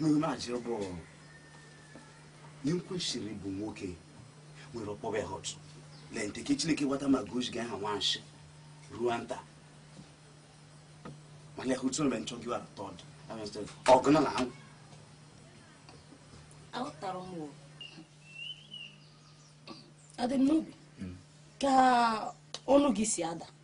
n'ime achị bụ ị kwesịrị bụ nwoke nwere ọkpọbe hot na nke chineke wata ma gozi ga aha nwanshi ruo nta mana ya hụtụrụ mgbe nchọgị wa tọd ọgụ na na anwụ aghọtara m o adị m n'obi ka ọnụ gị si ada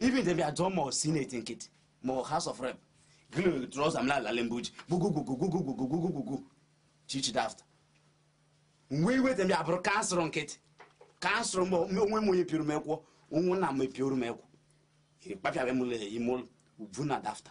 even dem bịa jụọ ma ọ senate nkịtị ma ọ house of rep gịnị trouser m na-alale mgbe uji gwugwugwugwu chichi dafta mgbe even dem bịa bụrụ council nkịtị council mgbe onwe m onye pioro m ekwọ onwe nna m epioro m ekwọ ịkpapịara m ime ụlọ ugwu na dafta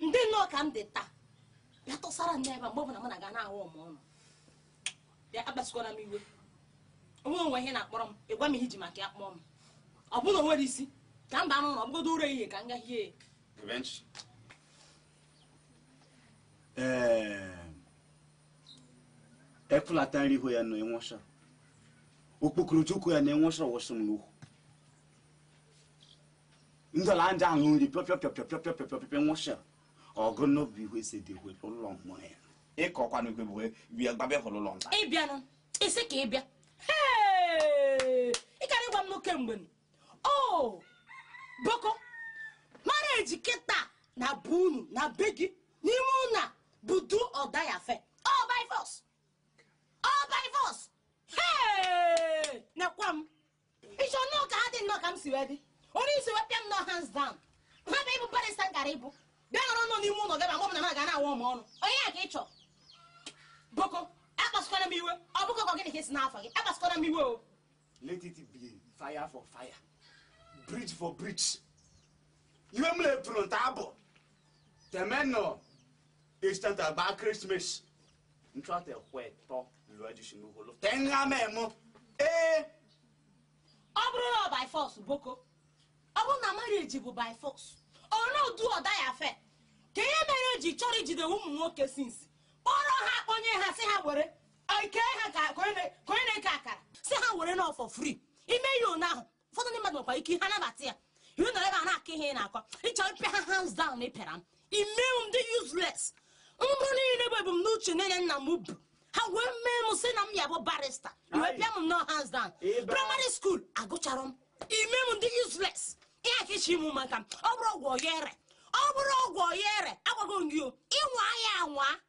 m dị nnọọ ka m dị taa bịa tụsara n'ebe a mgbe ọbụla mụ na gị na-ahụ m ọnụ bịa akpasukwara m iwe o nwe o nwee ihe ị na-akpọrọ m ị gwa m ihe i ji maka ya kpọọ m ọ bụrụ na o nwere isi ka m baa n'ụlọ ọ bụgodu ụra ehihie ka m ga hie ya Revenge. Ee, efulata nri ihu ya na enwụcha okpokoro chukwu ya na enwụcha wụsị m n'ukwu ndọla ndị ahụ nri pịọpịọ nwụchịrị ọgụ n'obi ihu esi dị hwe ụlọ mmụọ ya ịkọkwanụ igwe bụ bịa gbabịa hụrụ ụlọ nta ị bịanụ isi ike bịa ị gara ịgwa m nwoke mgbe ọ bụkọ marriage kịta na bụ unu na be gị n'ime ụnọ bụ do or die affair ọ by force ọ by force nekwa m ị chọ nnọọ ka ha dị nnọọ ka m si wee dị onye isi wee pịa m nnọọ hands down ha bụ ịbụ barrister m gara ịbụ bịa nọrọ nọ n'ime ụlọ gaba mgbe na m ga na-awụ m ọnụ ọ ya ka ị chọ ọ bụkọ akpasụkwana m iwe ọ bụkọ ka gịnị ka esi n'afọ gị akpasụkwana m iwe o let it be fire for fire bridge for bridge iwe m na-epụrụ nta abụ temenọ estant agba Christmas ntrate kwetọ luajishinuholo tenga memo ee ọ bụrụ na ọ by force ọ bụkọ ọ bụrụ na marriage bụ by force ọ na do or die affair kee ihe mere e ji chọrọ ijide ụmụ nwoke since kpọrọ ha kpọnye ha sị ha were ike ha ka onye na-eke akara sị ha werenụ for free ime ihe ụnyaahụ ụfọdụ ndị mmadụ nwekwa ike ha nabata ya ị nọrọ ebe a na-akọ ihe ị na-akọ ị chọ ịpịa ha hands down na ị pịara m i mee m m dị useless mbụ niile bụ ebumnuche niile nna m bu ha wee mee m sị na m ya-abụ barrister wee pịa m nnọọ hands down primary school agụchara m i mee m m dị useless ihe a ka ị sị m maka m ọ bụrụ ọgwụ ọ ya ere ọ bụrụ ọgwụ ọ ya ere agwago m gị o ị nwa ya anwa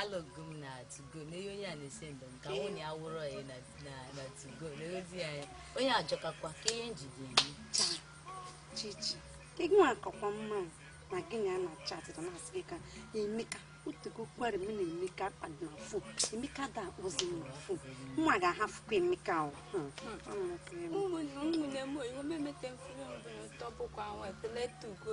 alụgo m na tugo na ihe onye a na-ese ndụ m ka mụ na ya wụrụ ya na na- na tugo na ozi ya ya. onye ajọkakwa ka ihe njide eme Chaa, chichi ka gị nwa akakwa mma o, na gị na ya na chatịta na-asị gị ka emeka otego kwere m na emeka kpadị na fon emeka ada akpọzi m na fon nwa ga-ahafụkwa emeka o Hmm. ụmụnne ụmụnne m oyibo memete mfere mbụ n'ụtọ bụkwa nwa ekpele tugo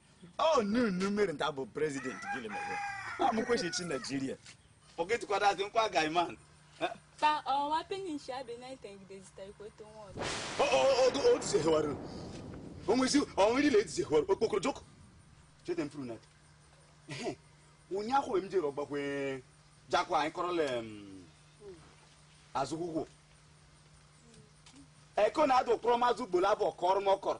Oh, no, no, mere nta bụ president gịnị mere? Amụkwechi chi Naijiria. Forget kwada azị nkwa guy man. Ka ọwa penny nshi abịa na ite ngide zita ikwe to nwa ọdụ. O o o o ti sehewaru. O nwezi o nwere ile ti sehewaru okpokoro joko. Chete mfuru na. Ehe. Ụnyaahụ m jere ọgbakwe jakwa anyị kọrọla azụkwụkwọ. Eko na-adụ kpọrọ mazụ gbolo abụ ọkọrọ m ọkọrọ.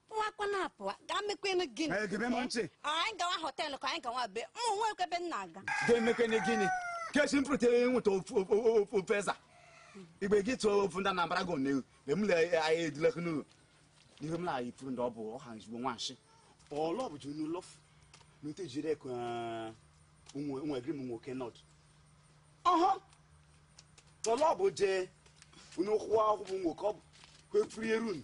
pụwakwa na-apụwa gaa mekwenu gịnị Ee, gebe m ntị. anyị gawa họteelụ ka anyị gawa be mụ nwekwa ebe m na-aga ga-emekene gịnị kechi m pụtara ịnweta ofu- ofu- ofu- ofu eza igbe gị tụọ ofu ndị anambra gị onewu mgbe m lee anyị edilekụ n'ụlọ n'ihe m na-ayị pụrụ ndị ọ bụ ọha nzugbo nwanshi ọlọ bụ junu lọfụ na ute jiri ekwe nwegiri m nwoke nọd ọhọ ọlọ bụ je unu kwụwa akwụkwọ nwoke ọ bụ kwefuru eru unu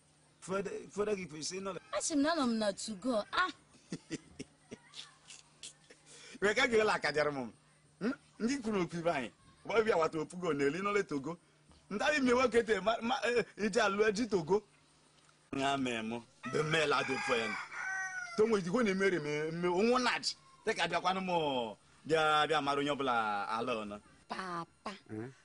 fọdụ gị kwesịrị ịnọ asị m na anọ m na tugo a ah. wee ka jirila akajara m hmm? ndị kwuru okwu ibe anyị gbabịa wata opugo na eli nọle togo ndị anyị mie nwoke te eh, iji alụ eji togo ya mee mụ bụ mmela dị mfe ya tonwe ijikwo na-emere m onwụ naji dịka bịakwanụ m bịa bịa mara onye ọbụla ala ọnụ papa hmm?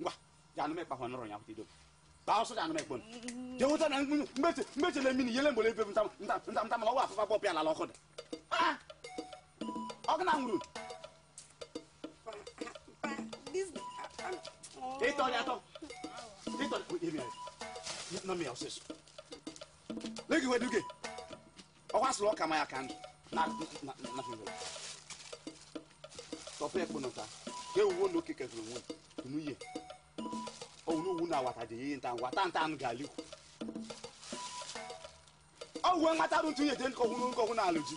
ngwa ya anụ mekpa hwanụrụ ya hụta idobe baa ọsọ ya anụ mekpon je hụta na mmeche mmeche na mini yele mgbele ebe nta nta nta nta mala ọwa afụfa bọpụ ya lala ọkụ dị ọkụ na nwuru ịtọ ya atọ ịtọ ya nọ m ya ọsịsọ legi weduge ọ kwasịrị ọka ma ya ka ndụ na na na na fere tọpụ ekpo nọta ka ewuwo na oke kefere onwe nuye owu n'owu na awata dị ihe nta ngwa tanta anụ ga alikwu ọ wuwe nwata rụ ntụ ihe je nkọhụ n'nkọhụ na alụ ji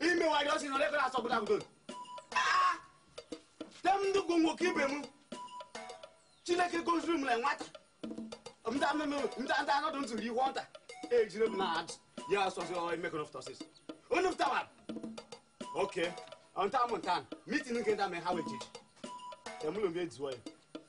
imewari ọsị nọ n'ebe na-asọ bụda bụdo tem ndị gụ nwoke ibe m chineke goziri m na nwata nta mmemme nta nta anọdụ ntụrụ ihu ọnta ejire m na adụ ya asọzi emekọ n'ọfụtọsis onye fụtawa oke ọnta m nta mitin nke nta mee ha wee jiji temụlụ mgbe ejiwo ya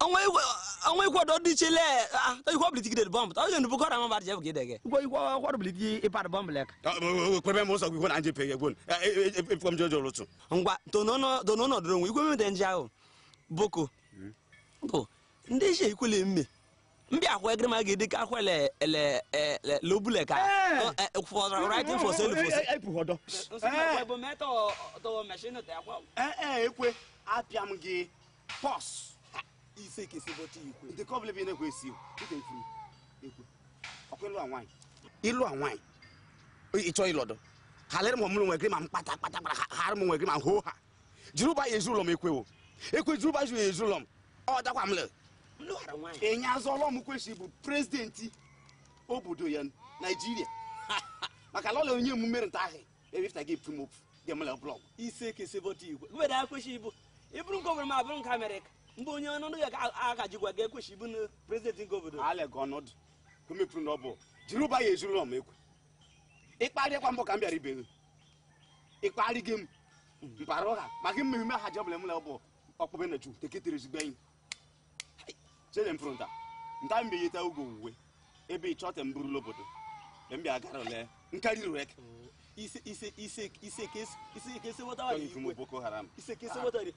ọnwa ikwado dị chile ikwe ọbụla itigide bọmbụ ta onye ndubu kọrọ amaba jef gị dege ikwe ikwe ọkwa ọbụla iti ịpad bọmbụ lek kwebe m ụsọ gị na nje pege gwon efọm jojo lụtụ ngwa dono nọdụrụ onwe ikwe mmede nje ahụ boko bụ ndị ishe ikwele mme ndị akwa egere ma ga-ede ka akwa le le le lobule ka for writing for sale for sale epuhodo eh eh ekwe apịa m gị Boss, ife ka ife bọcha ikwe. Ndị ka ọbụla bi na-ekwe esi o. Dịka ifuru, ekwe. Ọkwa ịlụ a nwaanyị. Ịlụ a nwaanyị. Ị chọọ ịlọdọ. Ha lere m ọmụrụ nwere ma m kpata kpata kpata ha hara m nwere ma m hoo ha. Jiri ụba ya ezu ụlọ m ekwewo. Ekwe jiri ụba ya ezu ụlọ m. Ọ dakwa m lere. Enye azụ ọlọ m kwesịrị ịbụ prezidenti obodo anyị Naijiria. Maka lọla onye emume nta ahụ. ebe ifta gị pụrụ m ofu ga-emela blọg ise ka esi bọta igwe mgbede a kwesị ịbụ ịbụrụ nke obodo ma abụrụ nke amerịka mgbe onye ọnọdụ ya aka jikwa ga-ekwesị ịbụ na prezidenti nke obodo ala ga ọnọdụ ka mepụrụ na ọ bụ jiri ụba ya ezuru ọma ekwe ịkparịkwa mbọ ka m bịara be gị ịkparị gị m mpara ụgha maka mmemme ha jebụla emela bụ ọkpụbe na chi eketere ezigbo enyi chere mfụrụ nta nta mbe yeta ugo uwe ebe ị chọta mburu lobodo mbe mbịa gara ole nkarị rek ise ise ise ise kesi ise kesi wọta wa yi iwe boko haram ise kesi wọta yi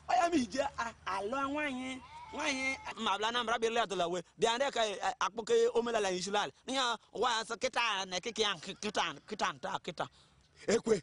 ọ ya m ji je alụ nwanyi nwanyi mabla na mra bele atola we bi ande ka akpoke omela la insulal nya wa sa kita na kiki an kita kita ta kita ekwe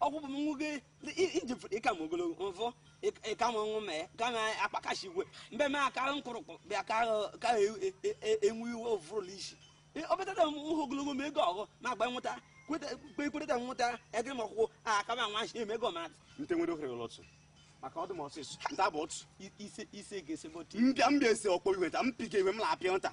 ọkwụ bụ nwoke iji ị ka m ogologo mfụ ị ka m ọnụ mee ka m akpakashi iwe mbe m aka nkụrụkpụ bịa ka enwe iwe ofụrụla isi obetata m hụ ogologo ma ego ọghụ ma agba nwụta kwekweta nwụta ege m ọkwụkwụ aka m anwa eme ego ma nte nwere ohere lọtụ maka ọdụ m ọsịsọ nta bụ otu ise ise ga-esi mbịa mbịa esi ọkpọ iwe ta m pike iwe m na-apịa nta